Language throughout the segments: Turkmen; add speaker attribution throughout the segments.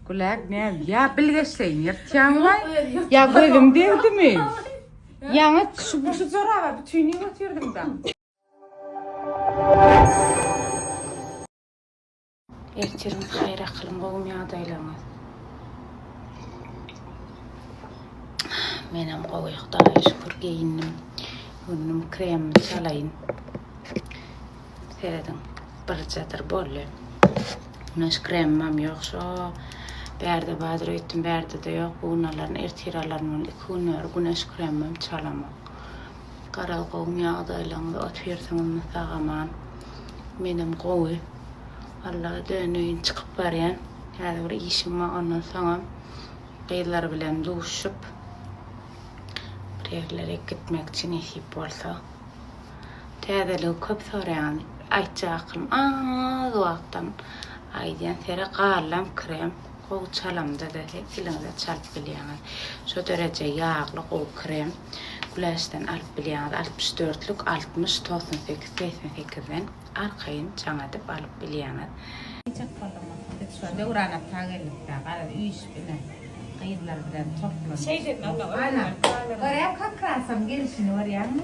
Speaker 1: Gülak näz ya bilgeşleyin ýyrtýaň baý. Ya gözüm degdimi? Ýaňy şu şu zoraba bütini göterdim da. Ertiriň haýyr akylyň gowmy ýagdaýlaryňyz? Menem gowy Hudaýa şükür geýindim. Günüm kremimi çalaýyn. Serediň, birjadyr boldy. Güneş kremimem ýok, şo bärde badyr öýtdüm, bärde-de ýok. Bu gün alaryn, ertir alaryn boldy. Iki gün bäri güneş kremimem çalamok. Garaz, gowymy ýagdaýlaryňyz, otyrsyňyzmy sag-aman? Menem gowy. Allaha döneýin, çykyp barýan. Häzir bir işim bar, ondan soňam gyzlar bilen duşup, bir ýerlere gitmekçi, nesip bolsa. Täzeligi köp soraýan aýtjakym az wagtdan aýdýan seri gallam krem gowy çalamda da eliňize çalyp bilýäňiz şo dereje ýagly gowy krem güläçden alyp bilýäňiz altmyş dörtlük altmyş togsan sekiz segsen sekizden arkaýyn jaň edip alyp bilýäňiz. Biçak bolduňyz biz şo Döwrana ta geldikdä garaz üýşüp ine gyzlar bilen toplandyk. Ana görä kökrasyň gelişini görýäňmi.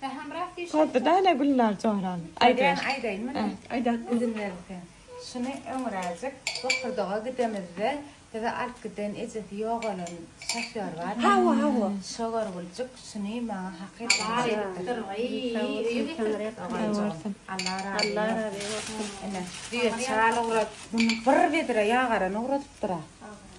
Speaker 2: Pähimrak diýşi. Hopdy da ene Gülnar Joran. Aýdaýyn. Aýdaýyn
Speaker 1: mende. Aýda. Izin berilse. Şuny öňräjik bokurdaga gidemizde bizi alyp giden ejesi ýogalan şofýor barmy? Hawa, hawa. Şo
Speaker 2: görgüljik
Speaker 1: şuny maňa hakyt etjekdir. Allah razy bolsun. Ene, düýe çal ugrat. Muny bir bedre ýagarany ugradypdyr-a.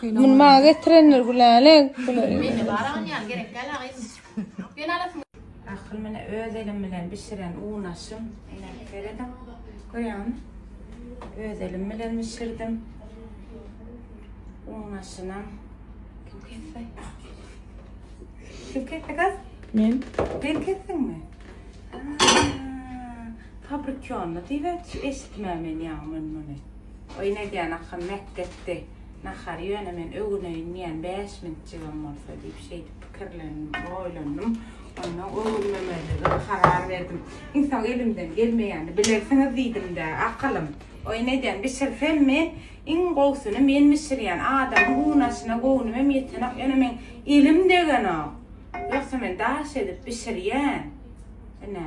Speaker 1: Bunu maňa getirenler Gülale. Meni baran ýaly gerek däl
Speaker 3: agyn. Sen alasyn. Akyl mine
Speaker 1: öz elim bilen bişiren unaşym. Ine serediň. Görýäňmi? Öz elim bilen bişirdim. Unaşynam. Kim kesdi? Kim kesdi kız? Men. Sen
Speaker 2: kesdiňmi?
Speaker 1: Fabrikionly diýip eşitmän men ýaňy men muny. Oý Nedýan akam mätgetdi. Nahary ýöne men öwüneýin diýýän bäş minitjigem bolsa diýip şeýdip pikirlendim, oýlandym. Onnoň öwünmemezlige karar berdim. Ynha elimden gelmeýänini bilersiňiz diýdim-dä, akylym. Oý Nedýan bişirsemmi, iň gowusyny men bişirýän. Adamyň unaşyna göwnümem ýetenok, ýöne meň elim degenok. Ýogsa men daş edip bişirýän. Ine.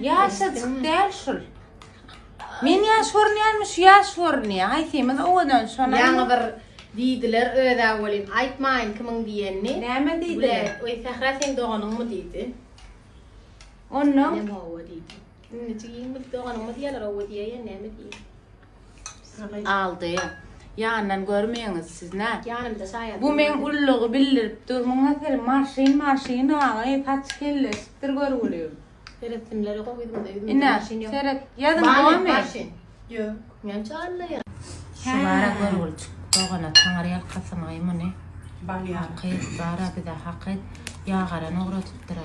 Speaker 4: Ýaşajyk däl
Speaker 1: şul. Men ýaş görünýärmi, şu ýaş görünýär. Haýsymyz owadan şony. Ýaňy bir
Speaker 3: diýdiler özä welin aýtmaýyn kimiň diýenini. Näme diýdiler?
Speaker 1: Oý Sähra sen
Speaker 3: doganyňmy diýdi. Ondan.
Speaker 1: Näme owa
Speaker 3: diýdi. Indijik ýigimiz doganyňmy diýýärler owa diýýär ýa näme diýýär. Aldy.
Speaker 1: Ýandan görmeýiňiz siz nä? Ýanymda şaýat. Bu men
Speaker 3: ullugy
Speaker 1: bildirip dur. Muňa seri marşyn marşyn aý saç kelleşipdir görgüli. Seretsinler
Speaker 3: gowy ýüzümde ýüzümde. Ine seret. Ýazyň gowymy? Ýok. Men çagyrla ýa. Şulara
Speaker 1: görgülçik dogana taňar ýalkasyn aý muny. Bal ýa. Hakyt
Speaker 4: bara
Speaker 1: bize hakyt. Ýagaran ugradypdyra.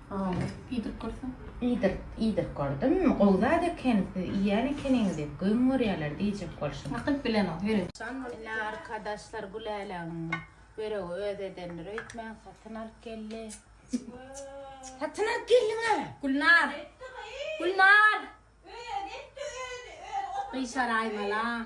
Speaker 3: Hawa, iýdirip görseň. Iýdirip, iýdirip
Speaker 1: gördüm. Gowy zat eken, siz iýýän ekeniňiz diýip, göwün görýärler diýjek bolşum. Hakyt bilenok, ýöne.
Speaker 3: Jan ine arkadaşlar
Speaker 1: Güläleň böregi öz edendir öýtmäň satyn alyp geldi. Satyn alyp geldiňä. Gülnar. Gülnar.
Speaker 3: Özi etdi özi özi. Gyşaraýmala.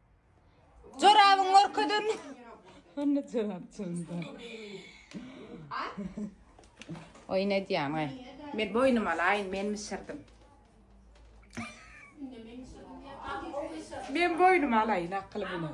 Speaker 1: Jorabyň görkezen. Onda jorap çylda. Oy ne diýýän oy. Men boýnum alaýyn, men bişirdim. Men boýnum alaýyn akyl bilen.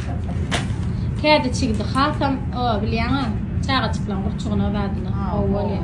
Speaker 5: Kädi çigidi hasam o bilýäňä çagajyklaň gurçugyna badyna gowy bolýa.